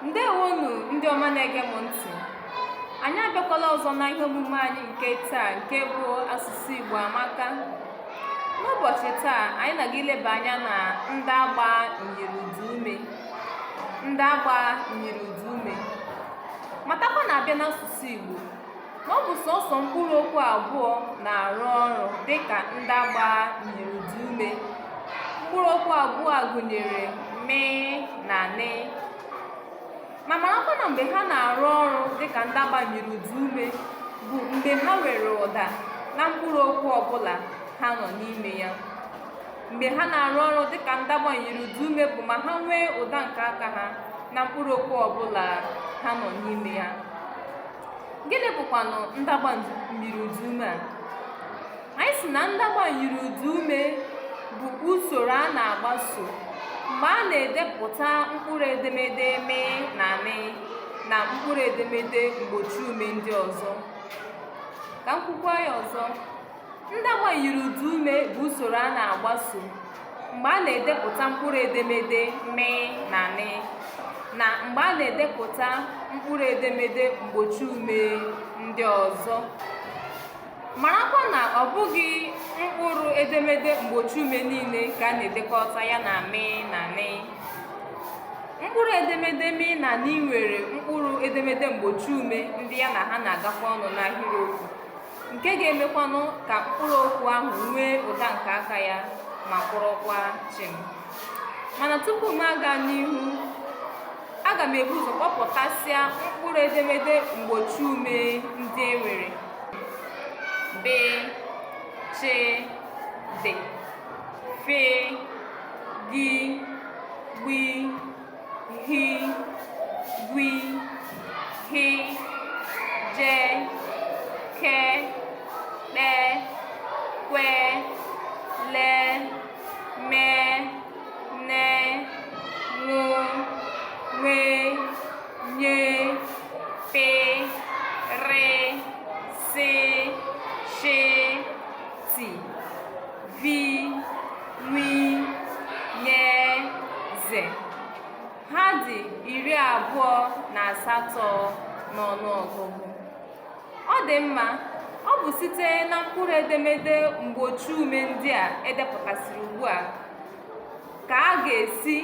ndewonu ndị ọma na-ege m ntị anyị abịakwala ọzọ na ihe omume anyị nke taa nke bụ asụsụ igbo amaka n'ụbọchị taa anyị na-aga ileba anya na ndagba myiri ụdaume ndagba myiri ụdaume matakwa na a bịa n'asụsụ igbo ọ bụ sọsọ mkpụrụ okwu abụọ na-arụ ọrụ dị ka ndagba myiri ụdaume mkpụrụ okwu abụọ a gụnyere mị na nị ma marakwa na mgbe ha na-arụ ọrụ dị ka ndagba myiri ụdaume bụ mgbe ha nwere ụda na mkpụrụ okwu ọbụla ha nọ n'ime ya mgbe ha na-arụ ọrụ dị ka ndagba myiri ụdaume bụ ma ha nwee ụda nke aka ha na mkpụrụ okwu ọbụla ha nọ n'ime ya gịnị bụkwanụ ndagba myiri ụdaume a anyị sị na ndagba myiri ụdaume bụ usoro a na-agbaso mgbe a na-edepụta mkpụrụ edemede mị na nị na mkpụrụ edemede mgbochi ume ndị ọzọ ka m kwukwa ya ọzọ Ndagba myiri ụdaume bụ usoro a na-agbaso mgbe a na-edepụta mkpụrụ edemede mị na nị na mgbe a na-edepụta mkpụrụ edemede mgbochi ume ndị ọzọ marakwa na ọ bụghị mkpụrụ edemede mgbochi ume niile ka a na-edekọta ya na mị na nị mkpụrụ edemede mị na nị nwere mkpụrụ edemede mgbochi ume ndị ya na ha na-agakọ ọnụ n'ahịrịokwu nke ga-emekwanụ ka mkpụrụ okwu ahụ nwee ụda nke aka ya ma kwụrụkwa chịm mana tupu m aga n'ihu aga m ebu ụzọ kpọpụtasịa mkpụrụ edemede mgbochi ume ndị e nwere b ch d fe gi gbi hi gwi hi je ke kpe kwe le me ne ṅụ nwe nye pe re se she ti vi wi nye ze ha dị iri abụọ na asatọ n'ọnụ ọgụgụ ọ dị mma ọ bụ site na mkpụrụ edemede mgbochi ume ndị a e depụtasịrị ugbu a ka a ga-esi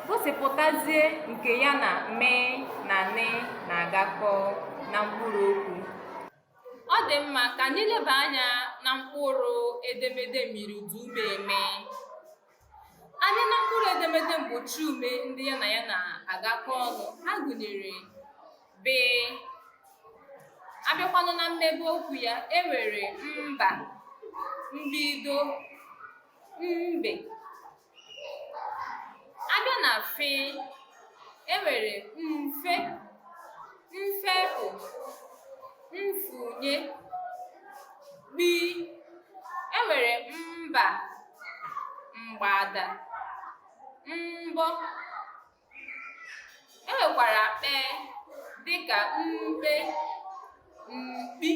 gosipụtazie nke ya na mị na nị na-agakọ na mkpụrụ okwu ọ dị mma ka anyị leba anya na mkpụrụ edemede myiri ụdaume mị anyị na mkpụrụ edemede mgbochi ume ndị ya na ya na-agakọ ọnụ ha gụnyere be a bịakwanụ na mmebe okwu ya e nwere mba mbido mbe abịa na fị enwere mfe mfepụ mfunye gbi enwere mgba mgbada mgbọ e nwekwara kpe dịka mkpe mkpi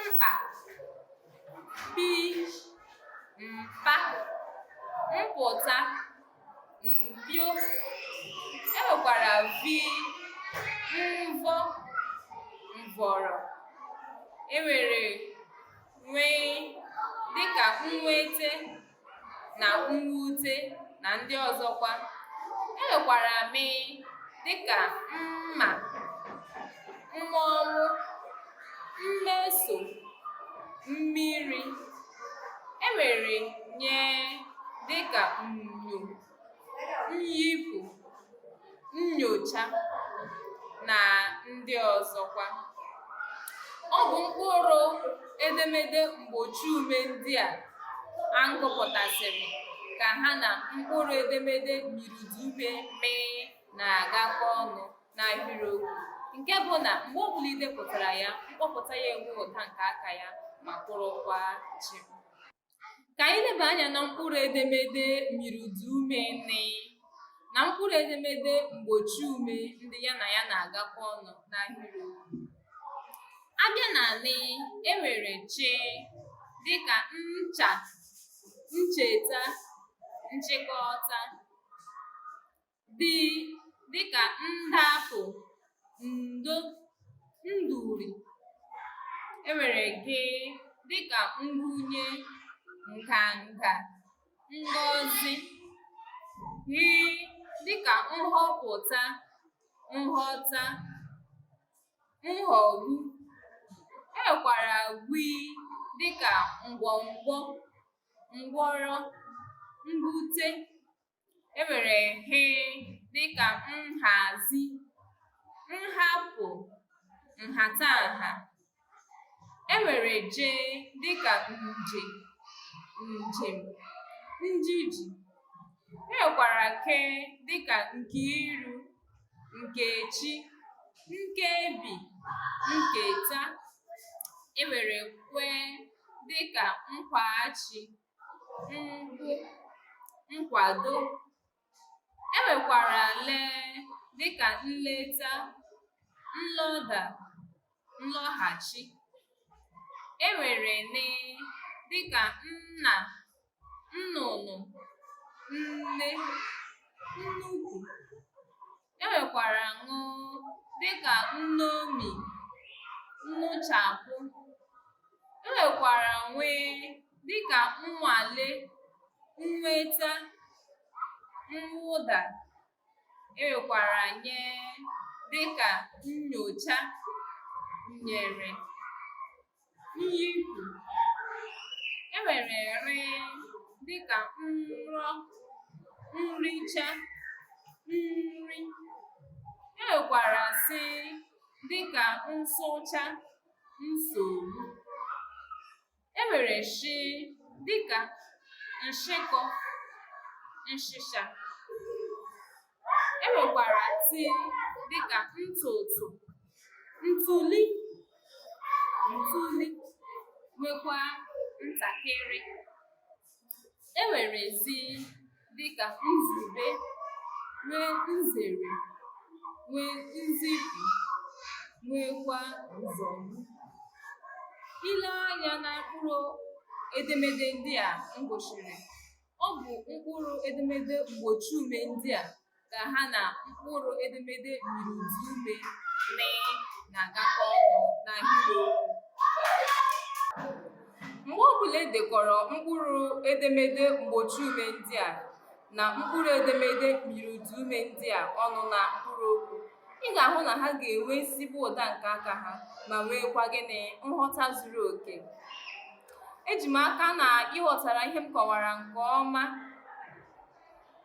mkpa pi mpa mpụta mpio e nwekwara vi mvọ mvọrọ e nwere nwe dịka nwete na mwute na ndị ọzọkwa enwekwara mị dịka mma mmọnwụ mmeso mmiri enwere nye dịka nnyo nyipụ, nnyocha na ndị ọzọkwa. Ọ bụ mkpụrụ edemede mgbochi ume ndị a m gụpụtasịrị ka ha na mkpụrụ edemede myiriụdaume mị na-agakọ ọnụ n'ahịrịokwu nke bụ na mgbe ọ bụla i depụtara ya mkpọpụta ya enwe ụda nke aka ya ma kwụrụkwa chịm ka anyị leba anya na mkpụrụ edemede myiriụdaume nị na mkpụrụ edemede mgbochi ume ndị ya na ya na-agakọ ọnụ n'ahịrị abịa na nị e nwere chi dịka ncha ncheta nchịkọta dị dịka ndapụ ndo nduri enwere gị dịka ngụnye nganga ngọzi ghị dịka nghọpụta nghọta nghọgbu e nwekwara gwi dịka ngwọngwọ ngwọrọ ngwute e nwere he dịka nhazi nhapụ nhatanha e nwere je dịka nje njem njiji e nwekwara ke dịka nkiru nkechi nkebi nketa e nwere kwe dịka nkwaghachi nkwado e nwekwara le dịka nleta nlọda nlọghachi e nwere ne dịka nna nnụnụ nne nnukwu E nwekwara ṅụ dị ka nṅomi, nṅụchapụ. E nwekwara nwe dị ka nnwale, nnweta, nnwụda. E nwekwara nye dị ka nnyocha, nnyere. nyipụ e nwere rị dịka nrọ nricha nri e nwekwara sị dịka nsụcha nsogbu e nwere shi dịka nshịkọ nshịsha E nwekwara ti dịka ntụtụ, ntuli, ntuli nwekwa ntakịrị. E nwere zi dịka nzube, nwee nzere, nwee nzipu, nweekwa nzọgbu. I lee anya na mkpụrụ edemede ndị a m gụchiri Ọ bụ mkpụrụ edemede mgbochi ume ndị a ka ha na mkpụrụ edemede myiri ụdaume mee na-agakọ ọnụ n'ahịrịokwu. Mgbe ọ bụla e dekọrọ mkpụrụ edemede mgbochi ume ndị a na mkpụrụ edemede myiri ụdaume ndị a ọnụ na mkpụrụ okwu, ị ga-ahụ na ha ga-enwe ezigbo ụda nke aka ha ma nweekwa gịnị nghọta zuru oke eji m aka na ị ghọtara ihe m kọwara nke ọma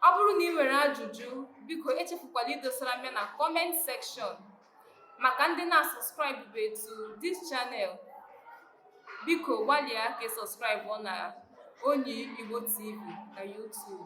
ọ bụrụ na i nwere ajụjụ biko echefukwala idosara m ya na comment section maka ndị na-asubscribebe to this channel biko gbalịa ka ị subscribe na onyi igbo tv na youtube